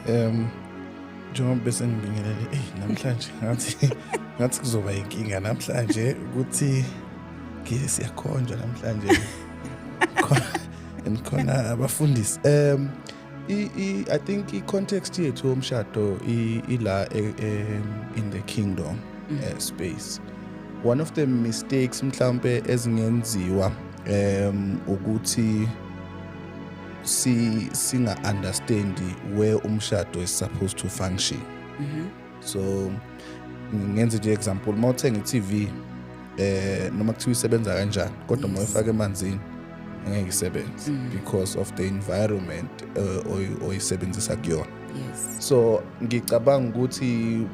um njengoba bese ngibingelele eyi namhlanje ngathi ngathi kuzoba yinkinga namhlanje ukuthi ngile siyakhonjwa namhlanje and khona abafundisi um i think i-context yethu yomshado ila e, e, in the kingdom mm. eh, space one of the mistakes mhlampe ezingenziwa um ukuthi si singa understand where umshado is supposed to function mm -hmm. so ngenze nje example uma uthenga i-TV eh noma kuthiwa isebenza kanjani kodwa uma uyifaka emanzini ngeke isebenze mm. because of the environment uh, oyisebenzisa kuyona yes so ngicabanga ukuthi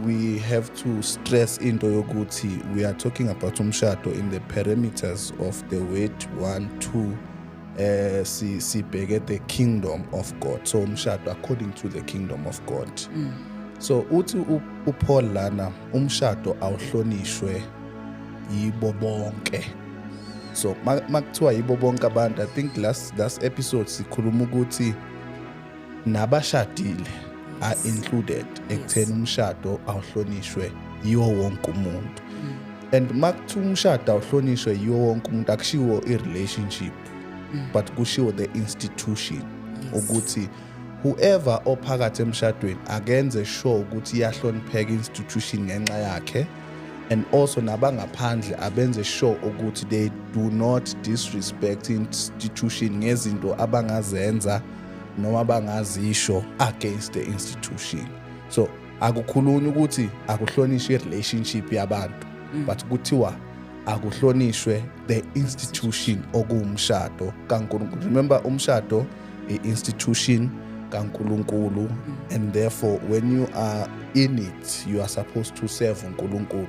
we have to stress into yokuthi we are talking about umshado in the parameters of the weight 1 2 eh si sibheke the kingdom of God so umshado according to the kingdom of God mm. so uthi uPaul lana umshado awuhlonishwe yibo bonke so makuthiwa yibo bonke abantu i think last last episode sikhuluma ukuthi nabashadile are included ekutheni umshado awuhlonishwe yiwo wonke umuntu mm. and makuthi umshado awuhlonishwe yiwo wonke umuntu akushiwo i-relationship mm. but kushiwo the institution ukuthi yes. whoever ophakathi emshadweni akenze sure ukuthi iyahlonipheka institution ngenxa yakhe and also nabangaphandle abenze sure ukuthi they do not disrespect institution ngezinto abangazenza noma bangazisho against the institution so akukhulunywa ukuthi akuhlonishwe i-relationship yabantu mm. but kuthiwa akuhlonishwe the institution okuwumshado kaNkulunkulu remember umshado i-institution kaNkulunkulu mm. and therefore when you are in it you are supposed to serve uNkulunkulu